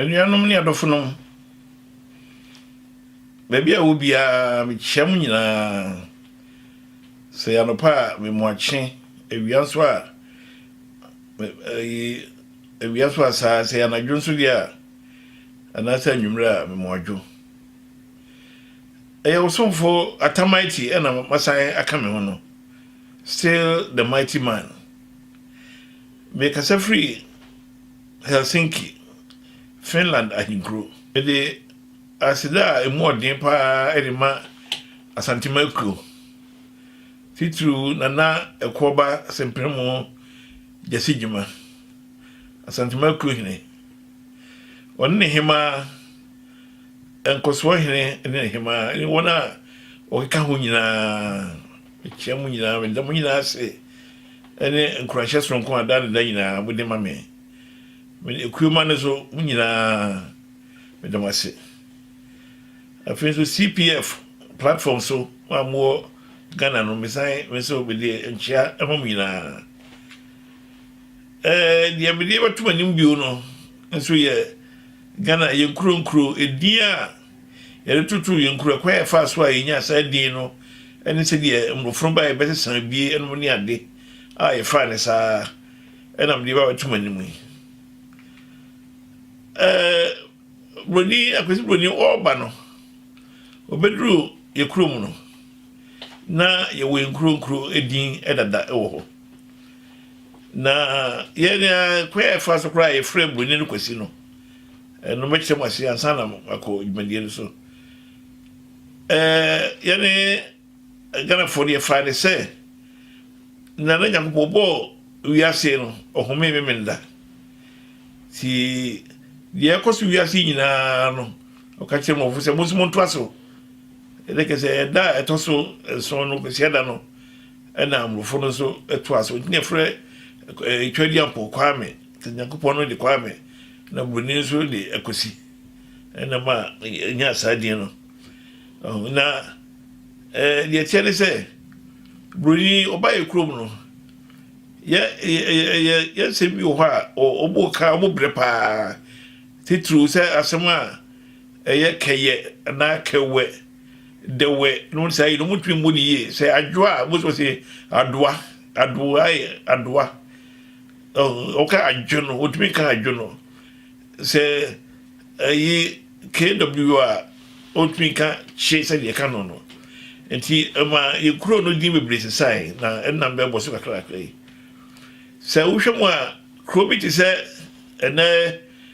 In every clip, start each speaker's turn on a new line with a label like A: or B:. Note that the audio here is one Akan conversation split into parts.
A: anuanom ne adɔfonom baabi a wɔ biara mekyia mu nyinaa sɛ yɛanɔpa a memoakye awia nso a Awia so a saa, sɛ ɛyɛ anadwo nso deɛ a, anaasɛ anwummerɛ a, mema wɔadwo. Ɛyɛ wo somfo Atta Mighty na masan aka me ho no, still the mighty man. Mekasa firi Helsinki, Finland ahenkuro. Mede aseda a ɛmu ɔden paa de ma Asantema akuo, titiriw Nana Ɛkoɔba Sempremo, Gyasi Gyimah, Asantuma Kuro Hene. Ɔne ne hemaa, Nkɔsoɔ Hene ne ne hemaa ne wɔn a wɔkeka ho nyinaa. Mekyia mo nyinaa, meda mo nyinaa ase ne nkuranhyɛ soronko a da ne da nyinaa mode ma me. Mede Ekuoma no so mo nyinaa meda mo ase. Afei nso CPF platform so a mowɔ Ghana no, mesan me nso mede nkyia ma mo nyinaa. Deɛ mede bɛto mo anim bio no nso yɛ Ghana, yɛn nkuro nkuro edin a yɛde toto yɛn nkuro, ɛkwan a yɛfaa so a yɛnyaa saa din no ne sɛdeɛ mmorɔfo no baeɛ bɛsesa abie nom ne ade a yɛfaa ne saa ɛna mede ba bɛto mo anim yi. Buroni, Akwasi Buroni ɔreba no, ɔbɛduru yɛ kurom no, na yɛwɔ nkuro nkuro din dada wɔ hɔ na yɛn kwan a yɛfa so koraa yɛfrɛ buroni no kwasi no ɛno mɛkyerɛ mu ase ansa na akɔ dwumadie no so ɛɛ yɛne ghanafoɔ no yɛfaa ne sɛ nana nyankopɔn bɔɔ wiase no ɔhome memenda ti deɛ ɛkɔ so wiase nyinaa no ɔka kyerɛ mɔfo sɛ mo nso montoa so Ɛnna kɛ sɛ ɛda a ɛtɔ so nson no, Kwasiada no, ɛna mmorofo no nso to ase. Ɔnti na ɛfrɛ ɛtwa di ampɔ Kwame, sɛ Nyankopɔn no de Kwame, na Buroni nso de Akwasi. Ɛna ma ɛnya saa din no. Na deɛ ɛteɛ ne sɛ, Buroni ɔba yɛ kurom no, yɛ yɛ yɛ nsɛm bi wɔ hɔ a ɔbɔ ka ɔbɔ brɛ paa titiriw sɛ asɛm a Ɛyɛ kɛyɛ anaa kɛwɛ, dɛwɛ nom no saa yi no ɔmo ntumi mmu no yie sɛ adwoa a most of us adoa adoa adoa ɔka adwo no ɔtumi nka adwo no sɛ ɛyi kw a ɔtumi nka kye sɛ deɛ ɛka no no nti ɛma yɛ kuro no din bebree sesae na ɛnam bɛbɔ so kakrakra yi sɛ wohwɛ mu a kuro bi te sɛ ɛnɛ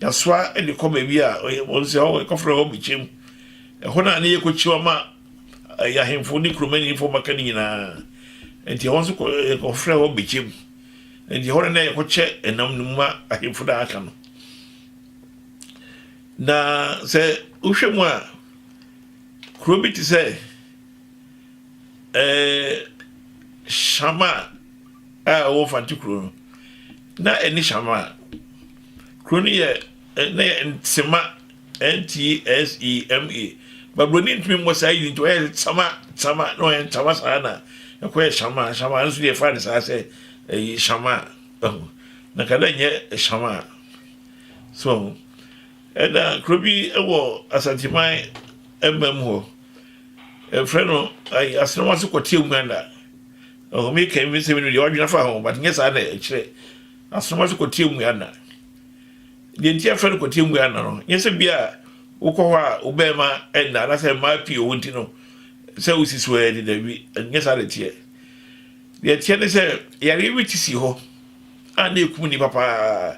A: Yɛasoa de kɔ baabi a wɔn sɛ hɔ yɛkɔfrɛ hɔ Bkyem. Ɛhɔ na ne yɛkɔkyim ama yɛn ahemfo ne kuromanimfoɔ mmaka no nyinaa. Enti ɛhɔ nso yɛkɔfrɛ hɔ Bkyem. Enti ɛhɔ na na yɛkɔkyɛ ɛnam no mu ma ahemfo no a aka no. Na sɛ wohwɛ mu a, kuro bi te sɛ Shama a ɛwɔ Mfante kuro no, na ɛne Shama a Kuro no yɛ na yɛ Nsema, N-T-S-E-M-A. But Buroni ntumi mmɔ saa yini nti ɔyɛɛ sɛ Tsama, Tsama, na ɔyɛ Ntsama saa na ɛkɔyɛ Shamaa, Shamaa, ɛno nso deɛ yɛfaa no saa sɛ ɛyi Shamaa, ɛho. Na ka dɛ nyɛ Shamaa. So ɛho. Ɛna kuro bi wɔ Asanteman mmam hɔ, ɛfrɛ no ayi Asenɔm ase kɔteɛ Uganda. Ɛho, meka yi mesɛ menim deɛ wadwene afa ho, but nyɛ saa na ɛkyerɛ. Asoma sɛ kɔtie mmua nna. Deɛ nti yɛfrɛ no kɔtie mmua nna no, nyɛ sɛ bia wokɔ hɔ a wo bɛrima nna anaasɛ mmaa pii ɔwɔ nti no sɛ wosi so ɛ de dabi, nyɛ saa na ɛteɛ. Deɛ ɛteɛ ne sɛ yareɛ bi te si hɔ a na ɛkum nnipa paa.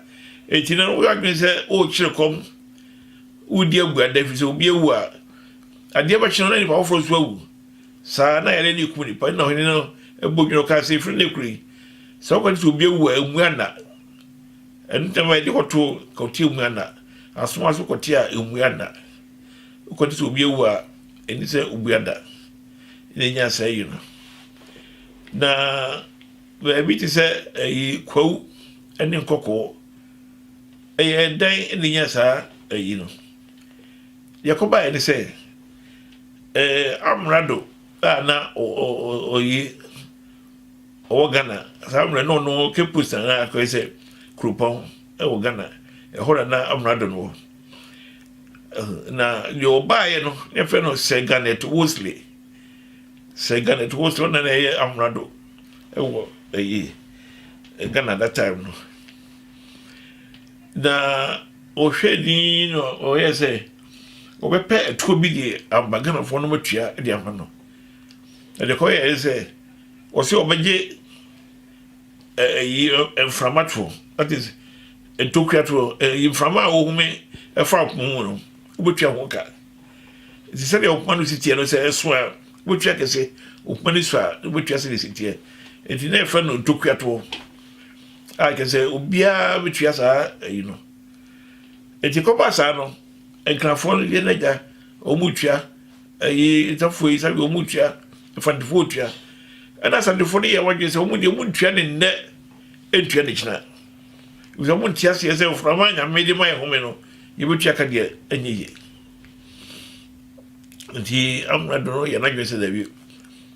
A: Enti na woyɛ adwene sɛ worekyere kɔm, wodi abuada, ɛfiri sɛ obi awu a, adeɛ bɛkye no na nnipa foforɔ nso awu. Saa ara na yare no kum nnipa. Ɛnna ɔhene no bɔ dwene, ɔkaa sɛ, Ɛfiri nnɛ kuro yi, sɛ woka sɛ obi awu a, ɛmmu ana? Ɛno nti na ma yɛde kɔto kɔte ɛmmu ana? Asoma so kɔte a ɛmmu ana? Woka sɛ obi awu a, ɛni sɛ obu ana? Ɛna ɛnya saa yi no. Na baabi te sɛ ɛyi kwawu ne nkɔkɔɔ ɛyɛ dan na ɛnya saa ɛyi no. Deɛ ɛkɔbaeɛ ne sɛ, amrado a na ɔye ɔwɔ Ghana saa mmerɛ na ɔno Cape Coast anaa akɔyɛ sɛ kuropɔn wɔ Ghana ɛhɔ na na amrado no wɔ na deɛ ɔbaeɛ no ne fɛ no Sir Garnet Wolseley Sir Garnet Wolseley ɔna na ɛyɛ amrado ɛwɔ ɛyi Ghana that time no Na wɔhwɛɛ dinn na wɔyɛɛ sɛ wɔbɛpɛ atuo bi de aba Ghanafoɔ no matua de ama no. Na deɛ kɔyɛɛ ne sɛ wɔsɛ wɔbɛgye ɛyi mframa toɔ that is ntokua toɔ ɛyi mframa a wɔhome ɛfa akoma mu no wobɛtua ho ka. Nti sɛdeɛ ɔkoma no si teɛ no sɛ ɛso a wobɛtua kɛse ɔkoma no so a wobɛtua sɛdeɛ si teɛ. Nti na ɛfɛ no ntokua toɔ. a kyɛ sɛ obiara bɛtua saa ayi no ɛti kɔba saa no nkrafoɔ no yɛ n'agya wɔn tua ɛyi nsafoɔ yi sabi wɔn tua mfantefoɔ tua ɛna asantefoɔ no yɛ wɔn adwene sɛ wɔn deɛ wɔn tua ne nnɛ ntua ne kyina wɔn wɔn nti aseɛ sɛ nframa nyame de ma yɛ home no yɛbɛtua ka deɛ ɛnyɛ yie nti amuna dono yɛ n'adwene sɛ dɛbi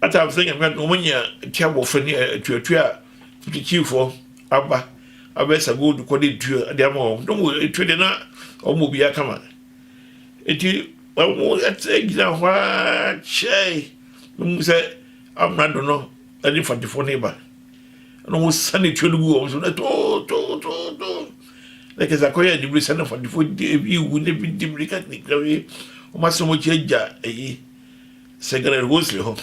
A: Atam sɛ Nyame adom ɔmo nya tia bɔfɛ ne atuatua a Kyikyifo aba abɛsa gold kɔ de tua de ama wɔn. Dɔm wɔ etua de na ɔmo bɔ obiara kama. Eti ɔmo ɛte gyina hɔ ara kyɛe na ɔmo sɛ amrado no ɛde mfantefo ne ba. Na ɔmo sane tua no gu wɔn so na too too too too. na kɛse akɔyɛ anibere sɛ na fadifo de ebi wu na ebi di mirika ne kura wi wɔn asɛm akyi agya eyi sɛ gana ɛwɔ nsiri hɔ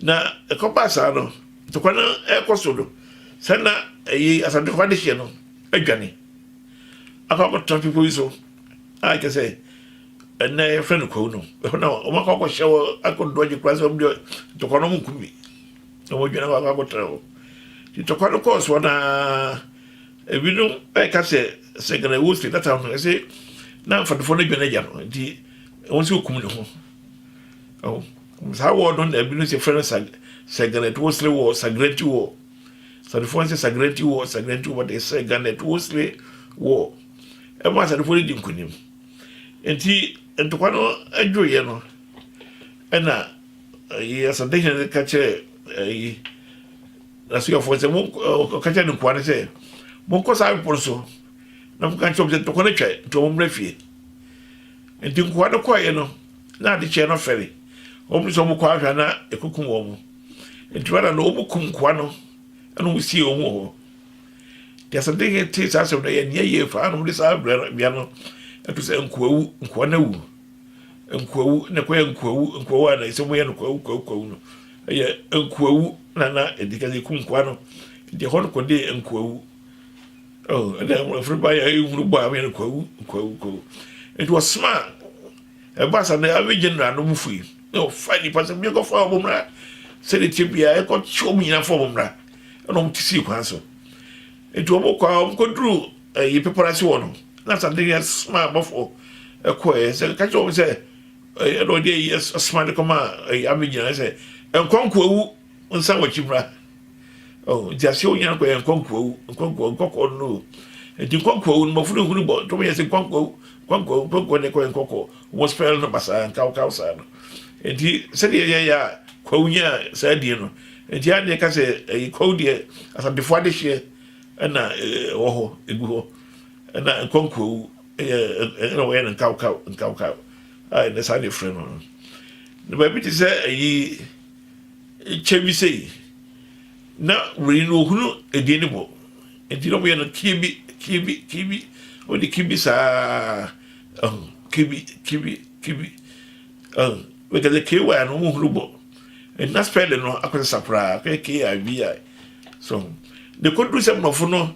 A: na ɛkɔ baa saa no ntɔkwa no ɛkɔ so no sɛ na eyi asante kɔ ade hyɛ no adwane akɔ akɔtena bepɔ bi so a kyɛ sɛ ɛnna yɛfrɛ no kwawu no ɛhɔ na wɔn akɔ akɔhyɛ wɔ akɔdo agye kura sɛ wɔn deɛ ntɔkwa no wɔn nkumi na wɔn adwane akɔ akɔtena hɔ ntɔkwa no kɔɔ soɔ naa. Ebinom ɛka sɛ sɛ Ghana ɛwɔ sɛ data no ɛsɛ na mfadofo no dwane agya no nti wɔn sɛ okum ne ho ɛho saa wɔ no na ebinom sɛ fɛn sa sɛ Ghana ɛtɔ sere wɔ sagrenti wɔ sadofo sɛ sagrenti wɔ sagrenti wɔ de sɛ Ghana ɛtɔ sere wɔ ɛma sadofo no di nkunim nti ntɔkwa no adwo yɛ no ɛna yɛ sadehene ka kyerɛ ɛyi N'asuafoɔ no sɛ, Mo, ɔka kyerɛɛ ne nkoa no sɛ, Monkɔ saa bepɔ no so na monka nkyerɛ wɔn sɛ, Ntɔkwa no atwa, enti wɔmmra fie. Enti nkoa no kɔeɛ no, na ade kyeeɛ no fɛre. Wɔpene sɛ wɔkɔ ahwɛ a na ɛkɔkum wɔn. Enti Rada no, wɔkum nkoa no na wɔsiee wɔn wɔ hɔ. Enti asɛmdin he tee saa asɛm no, ɛyɛɛ nea eye paa na wɔde saa bea no to sɛ Nkoawu, Nkoa no awu. Nkoawu, na ɛkɔyɛɛ Nkoawu, Nkoawu a na ɛsɛ sɛ wɔyɛ no Kwawu, Kwawu, Kwawu no. Ɛyɛ nkoawu na na ɛdi kan ɛku nkoa no nti ɛhɔ no kɔde nkoawu ɛna ɛfiri ba yɛ ɛhunu bɔ a ɛyɛ no kwawu kwawu kwawu nti wɔsoma ɛba sa no ɛyɛ general no mu fui na ɔfa nipa sɛ bi ɛkɔfa ɔmo mmra sɛde tie bia ɛkɔ kye ɔmo nyina fɔ ɔmo mmra ɛna ɔmo te sii kwan so nti ɔmo kɔ a ɔmo kɔ duru ɛyi pepɔra se wɔ no na sa de yɛ soma abɔfoɔ ɛkɔ ɛyɛ sɛ kakyɛ ɔmo sɛ ɛna ɔde ayi asoma de kɔma ɛyɛ abɛgyina ayɛ sɛ nkɔnkoawu nsa wɔkyi mmra oh, nti aseɛ wonya no kɔyɛ nkɔnkoawu nkɔnkoawu nkɔkɔɔ no no nti nkɔnkoawu no mɔfo no hunu bɔ tɔm yɛ sɛ nkɔnkoawu nkɔnkoawu nkɔnkoawu ne kɔyɛ nkɔkɔɔ wɔn spɛl no basaa nkawkaw saa no nti sɛdeɛ yɛyɛ a kwawu nya saa deɛ no nti a neɛ ka sɛ ɛyɛ kwawu deɛ asantefoɔ adehyeɛ ɛna ɛwɔ hɔ ɛgu hɔ ɛna nkɔnkoawu Ɛyɛ ɛyɛ na wɔyɛ no nkawkaw nkawkaw a ɛnɛ saa na efrɛ no no. Na baabi te sɛ ayi kyɛ bi sei na wei no ohunu edin ne bɔ nti na wɔyɛ no kibi kibi kibi wɔde kibi saa ɛho kibi kibi kibi ɛho wɔka sɛ ky no wɔn hunu bɔ ɛna spɛlin no akɔsesa koraa kɛ kibi so de kɔduru sɛ mmorɔfo no.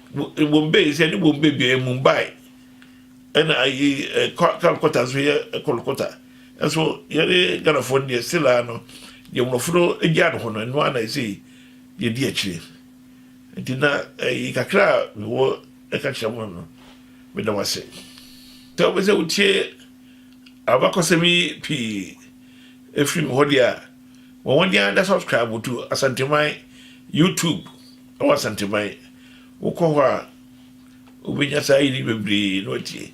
A: Wɔn bɛ sɛ ne wɔn bɛ bia yɛ Mumbai ɛna ayi Calcutta nso yɛ Kolkata nso yɛne Ghanafoɔ no deɛ silaa no deɛ mmorɔfo no gyaa no hɔ no ɛno a na ɛsɛ yɛdi akyire nti na ɛyi kakra a mewɔ ɛka kyerɛ mo no meda mo ase sɛ wobɛ sɛ wotie abakɔsɛm yi pii ɛfiri me hɔ deɛ a wɔn wɔn deɛ ada subscribe to Asanteman YouTube Wɔ Asanteman, wokɔ hɔ a, wobɛnya saa ayeyi bebree na watie.